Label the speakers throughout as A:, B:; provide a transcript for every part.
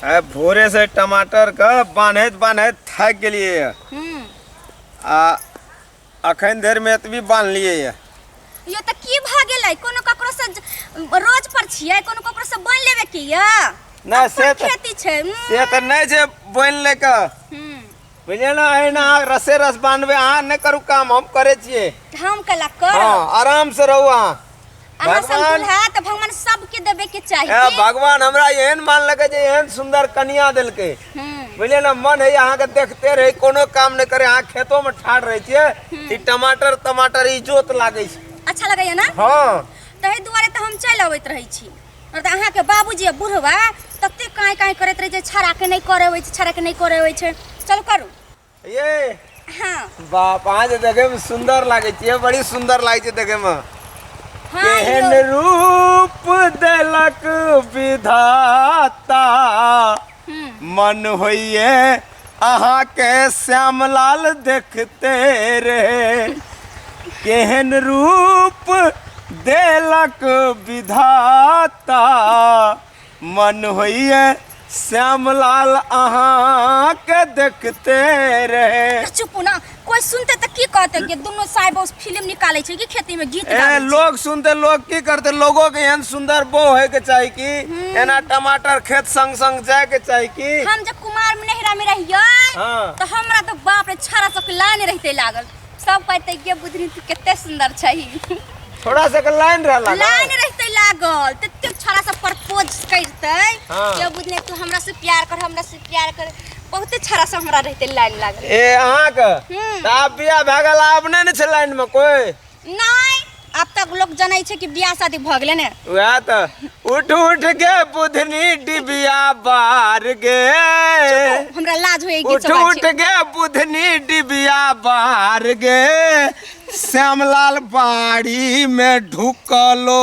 A: आ भोरे से टमाटर के बान्हैत बान्हैत थाकि गेलियै ये। हम्म आ अखन धरि मे एतबी बान्हलियै ये। यो तऽ की भऽ गेलै कोनो ककरो से ज- रोज पर छियै कोनो ककरो से बोल लेबे की यऽ नहि, से अपन तऽ- खेती छै हम्म, से तऽ नहि छै बोनि ले कऽ हम्म बुझलियै ने एहिना अहाँ रसे रस बांधबै अहाँ नहि करू काम हम करै छियै हम कला कर हँ आराम से रहू अहाँ अहाँ सब भगवान- दुल्हा तऽ भगवान सबके देबे के चाही ए, भगवान हमरा एहन मानलकै जे एहन सुंदर कन्या देलकै हम्म, बुझलियै ने मन है अहाँके देखते रही कोनो काम नहि करे अहाँ खेतो में ठाढ़ रहै छियै ई टमाटर टमाटर ई जोत लागै छै अच्छा लगैया ने हँ ताहि दुआरे तऽ हम चलि अबैत रहै छी और तऽ अहाँके बाबूजी आ बुढ़वा तते काँय काँय करैत रहै छै छड़ाके नहि करे होइ छै छड़ाके नहि करे होइ छै चलू करू ये हँ बाप अहाँ जे देखे में सुंदर लागे छियै बड़ी सुंदर लागे छै देखे में हँ केहन यौ। रूप देलक विधाता मन होइए अहाँके श्यामलाल देखते रहे केहन रूप देलक विधाता मन होइए श्यामलाल अहाँके देखते रहे चुप हो ना कोई सुनते त की कहते कि दोनों साहेब उस फिल्म निकाले छै कि खेती में गीत ए गाबै छै लोग सुनते लोग की करते लोगों के एहन सुंदर बो होए के चाही कि एना टमाटर खेत संग संग जाए के चाही कि हम जब कुमार में नहिरा में रहियै हाँ। तो हमरा तो बाप रे छारा सब के लाइन रहते लागल सब कहते ये बुधनी तू कते सुंदर छही थोड़ा सा के लाइन रहला ना। लाइन रहते लागल तते छारा सब प्रपोज करते हाँ। ये बुधनी तू हमरा से प्यार कर हमरा से प्यार कर बहुते छड़ा से हमरा रहते लाइन लागल ए अहाँके हम्म। तऽ आब बिया भए गेल आब नहि ने छै लाइनमे कोइ नहीं अब तक लोग जनै छै कि बियाह शादी भ गेलै ने वएह तऽ उठ उठ के बुधनी डिबिया बार गे हमरा लाज होए गीत उठ सब उठ बाजै के बुधनी डिबिया बार गे श्यामलाल बाड़ी में ढुकलो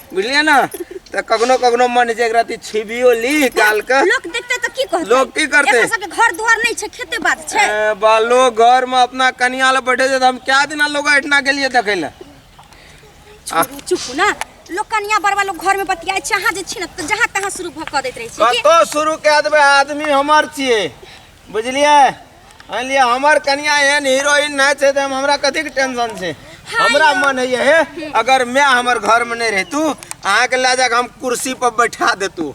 A: बुझलियै ने तऽ कखनो कखनो मन होइ छै एकरा ती छिबियो ली काल के लोक देखते तऽ की कहतै लोक की करतै? एकर सबके घर दुआर नहि छै खेते बात छै ए, बालो घर में अपना कनिया ले बैठे छै तऽ हम क्या दिना लोग एठना गेलियै देखै ले छोड़ू चुप ना लोक कनिया बड़वा लोग घर में बतियाइ छै अहाँ जे छी ने तऽ जहाँ तहाँ शुरू भऽ कऽ दैत रहै छी की कतौ शुरू कए देबै आदमी हमर छियै बुझलियै अनिया हमर कनिया एहन हीरोइन नहि छै तऽ हमरा कथी के टेंशन छै हमरा मन है हे अगर मैं हमर घर में नहीं रहतू अहाँ के ले जाके हम कुर्सी पर बैठा देतू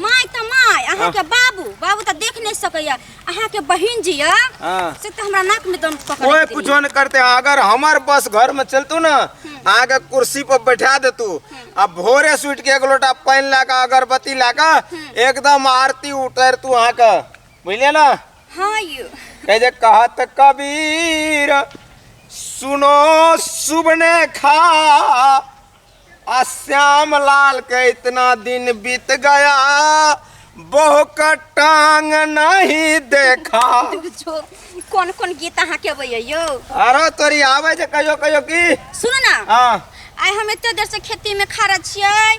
A: माय तऽ माय अहाँ के बाबू बाबू तऽ देख नहि सकैया अहाँ के बहिन जी या हाँ। से तऽ हमरा नाक में दम पकड़ कोई कुछो नहीं करते अगर हमर बस घर में चलतू ना अहाँ के कुर्सी पर बैठा देतू आ भोरे सुट के एक लोटा पानी लाके अगरबत्ती लाके एकदम आरती उतरतू अहाँ के बुझलियै ने हाँ यौ कहै छै कहत कबीर सुनो सुबने खा आ श्याम लाल के इतना दिन बीत गया बहु का टांग नहीं देखा जो कोन कोन गीत अहाँके अबैया यौ अरे तोरी आवे छै कहियो कहियो की सुनू ने हाँ आइ हम एते देर से खेती में खड़ा छियै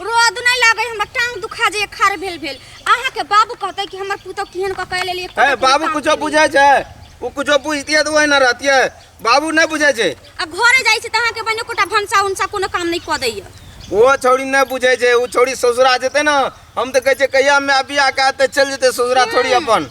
A: रोद नहीं लागे हमरा टांग दुखा जे खार भेल भेल अहाँ के बाबू कहते कि हमर पुतौ केहन क के लेलिए ए बाबू कुछो बुझै छै ओ कुछो बुझतिए तऽ ओहि न रहतिए बाबू नहि बुझै छै आ घरे जाइ छै त अहाँ के बने कोटा भंसा उनसा कोनो काम नहीं क दैय ओ छौड़ी नहि बुझै छै ओ छौड़ी ससुरा जेतै ने हम तऽ कहै छै कहिया माय बियाह कए तऽ चलि जेतै ससुरा थोड़ी अपन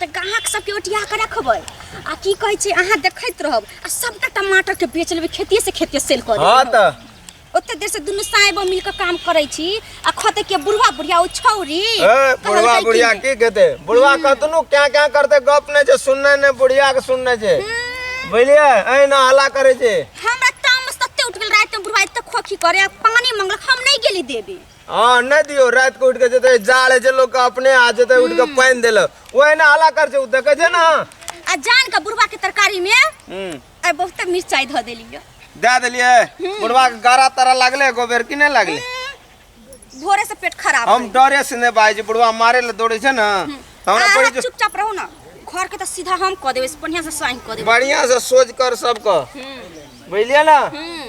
A: तऽ ग्राहक सबके ओटिया कऽ रखबै आ की कहै छै अहाँ देखैत रहब आ सबटा टमाटर के बेच लेबै खेतिए से खेतिए सेल कऽ हाँ देबै तो ओते देर से दुनू साहेबो मिल कऽ काम करै छी आ खते के बुढ़वा बुढ़िया ओ छौरी ए, कहलकै बुढ़वा कि- बुढ़िया की कहते बुढ़वा कहतनु क्या क्या करते गप नहीं छे सुनने ने बुढ़िया के सुनने छे बुझलिए ऐ ना हला करे छे हमरा तामस तते उठ गेल राति में बुढ़वा एते खोखी करे आ पानी मंगलक हम नहीं गेली देबे हाँ नहीं दियो रात को उठ के जते जाड़ है जे लोग का अपने आ जते उठ के पानी देल वही ना हला कर जे देखे जे ना आ जान का बुढ़वा के तरकारी में हम्म आ बहुते मिर्चाई धो देली यो। दे दिलिए बुढ़वा के गारा तारा लगले गोबर की नहीं लगले भोरे से पेट खराब हम डरे से नहीं बाई जी बुढ़वा मारे ले दौड़े छे ना तो हमरा पड़ी जो चुपचाप रहू ना घर के तो सीधा हम कह देबे बढ़िया से साइन कह देबे बढ़िया से सोच कर सबको हम्म बुझलिए ना हम्म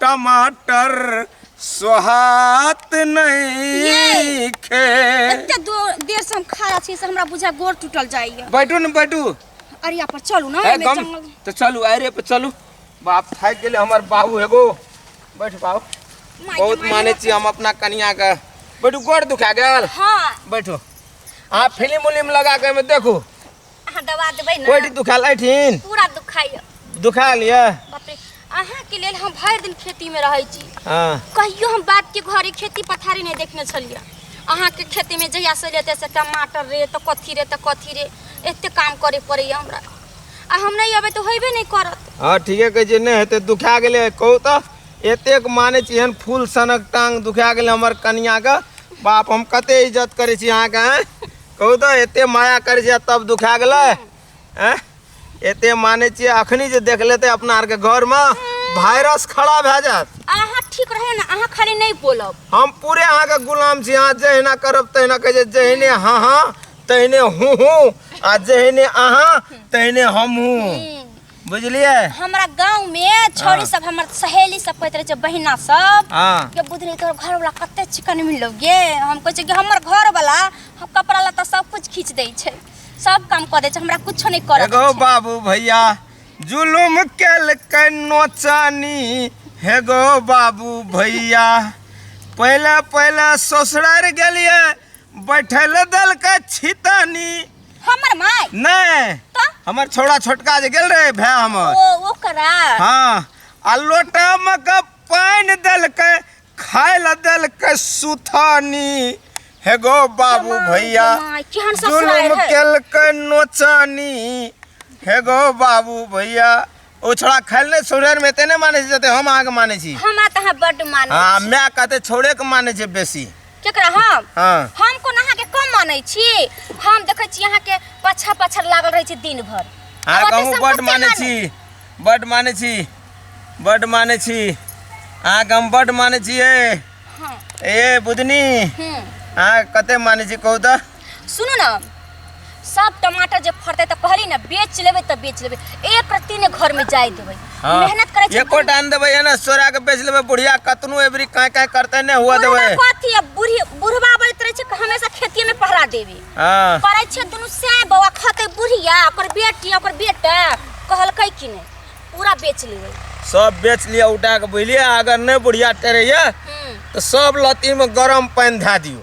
A: टमाटर स्वाहात नहीं खे एते दो- देर से हम खड़ा छी से हमरा बुझा गोड़ टूटल जाइए बैठू न बैठू अरिया पर चलू ना है एमे गम जंगल तो चलू अरे पे चलू बाप थाक गेले हमर बाबू हेगो बैठ बाबू माय बहुत माय माने छी हम अपना कनिया के बैठू गोड़ दुखा गेल हाँ बैठो अहाँ फिल्म उलिम लगा के एहिमे देखू अहाँ दवा देबै ने कोइटी दुखाल ऐठिन पूरा दुखाइए दुखाल ये बाप रे अहाँके लेल हम भरि दिन खेतीमे रहै छी हाँ कहियो हम बापके घरे खेती पथारी नहि देखने छलियै अहाँके खेतीमे जहिया से लेते से टमाटर रे तऽ कथी रे तऽ कथी रे एते काम करे पड़ैए हमरा आ हम नहि अबै तऽ होइबे नहि करत हाँ ठीके कहै छियै नहि हेतै दुखा गेलै कहू तऽ एतेक मानै छी एहन फूल सनक टांग दुखा गेलै हमर कनियाके बाप हम कते इज्जत करै छी अहाँके आँय? कहू तऽ एते माया करै छै तब दुखा गेलै एँ? एते मानै छियै अखनी जे देख लेतै अपना आरके घरमे वायरस खड़ा भए जायत अहाँ ठीक रहे ना अहाँ खाली नहीं बोलब हम पूरे अहाँके गुलाम छी अहाँ जहिना करब तहिना कहै छै जहिने हाँ हाँ तहिने हूँ हूँ आ जहिने अहाँ तहिने हम हूँ बुझलिए हमरा गांव में छोरी हाँ। सब हमर सहेली सब कहत रहे छै बहिना सब हां के बुधनी तोर घर वाला कते चिकन मिललो गे हम कहै छै कि हमर घर वाला हम कपड़ा लत्ता सब कुछ खींच दै छै सब काम कऽ दै छै हमरा कुछो नहि करऽ एगो बाबू भैया जुलुम केल के नोचानी हेगो बाबू भैया पहले पहले ससुरार गेलिए बैठल देलकै छितनी हमर माय नहीं तो हमर छोड़ा छोटका जे गेल रहे भै हमर ओ ओकरा हाँ आ लोटा में के पानि देलकै खाय ल देलकै सुथानी हे गो बाबू जमाई, भैया जमाई, केहन ससुराल जुलुम है? केलकै नोचानी हे गो बाबू भैया ओ छोड़ा खाइल नहि छोड़े में एते नहि मानै छै जते हम अहाँके मानै छी हमरा तऽ अहाँ बड्ड मानै हाँ छी। माय कहते छोड़े के मानै छै बेसी केकरा हम हाँ हम कोन अहाँके कम मानै छी हम देखै छी अहाँके पाछा पाछा लागल रहै छी दिन भर अहाँ आब कहूँ ओते बड्ड संपत्ति मानै मानू। छी बड्ड मानै छी बड्ड मानै छी अहाँके हम बड्ड मानै छियै हँ ए बुधनी हूँ अहाँ कते मानै छी कहू तऽ सुनू ने सब टमाटर जे फरते तऽ कहली ना बेच लेबै तऽ बेच लेबै एक रत्ती ने घर में जाए देबै हाँ। मेहनत करे छै एको टाइम देबै है ना सोरा के बेच लेबै बुढ़िया कतनो एबरी काहे काहे करते ने हुआ देबै बुढ़वा कथी है बुढ़ी बुढ़वा बोलत रहे छै कि हमेशा खेती में पहरा देबे हाँ करे छै दुनू से बौआ खते बुढ़िया ओकर बेटी ओकर बेटा कहलकै कि नहीं पूरा बेच लेबै सब बेच लिया उठा के बुझलिए अगर नहीं बुढ़िया टेरैया हम्म। तो सब लती में गरम पानी धा दियो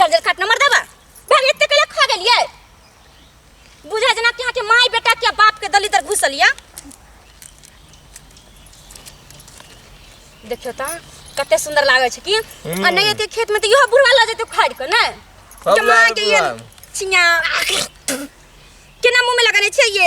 A: जंगल काट नंबर देबा भाग एते कले खा गेलिए बुझा जना के यहाँ के माई बेटा के बाप के दलिदर घुसल या देखियो ता कते सुंदर लागे छै की आ नहीं एते खेत में त इहो बुढ़वा ल जेते खाड़ के ना सब कमा लाल के ये बुढ़वा। चिया केना मुंह में लगाने छै ये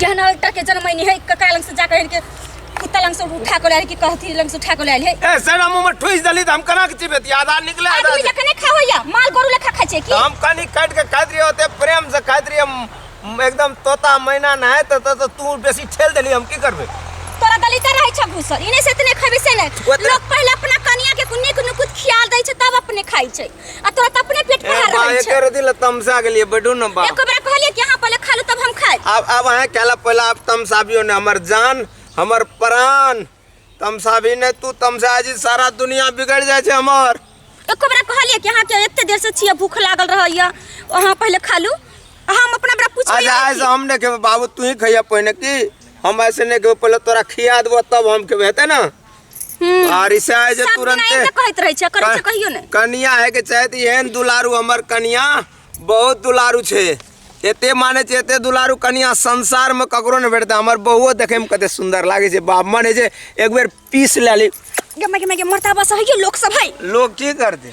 A: केहन एकटा के जनमैनी है कका लग से जा कह के कुत्ता लग से उठा के लायल कि कहती लग से उठा के लायल है ए सना मुंह में ठुस दली त हम कना के चिबे ती आधा निकले आधा आदमी लेखा नहीं खावैया माल गोरू लेखा खाइ छै कि हम कनी काट के खाइत रही होते प्रेम से खाइत रही हम हम एकदम तोता मैना ना है तो, तो, तो तू बेसी ठेल देली हम की करबे तोरा गली त रहै छ घुसल इने से तने खबे से नै ओतने- लोग पहिले अपना कनिया के कुन्नी कुन्नी कुछ खियाल दै छै तब अपने खाइ छै आ तोरा त अपने पेट ए भरा बा रहल छै एकर दिल तमसा गेलिए बैठू न बा एको बेर कहलिए कि अहाँ पहले खा लू तब हम खाएब अब अब अहाँ कहला पहला आप तमसाबियो ने हमर जान हमर प्राण तमसाबी ने तू तमसा जी सारा दुनिया बिगड़ जाए छै हमर एको बेर कहलिए कि अहाँ के एते देर से छिए भूख लागल रहैया अहाँ पहले खा लू आ हम अपना बेरा पूछबे अच्छा नहीं ऐसे किए। हम नहीं खेबे बाबू तू ही खैया पहिने की हम ऐसे नहीं खेबे पहले तोरा खिया देबो तब हम खेबे हेतै ना आर इसे आए जे सब तुरंते बनाई के कहत रहे छै करे छै कहियो ने कनिया है के चाहे तऽ एहन दुलारू हमर कनिया बहुत दुलारू छै एते माने छै एते दुलारू कनिया संसार में ककरो ने भेटतै हमर बहुओ देखे में कते सुंदर लागे छै बाप मन है जे एक बेर पीस ले ली गमे गमे के मरता बस है लोक सब है लोग की करते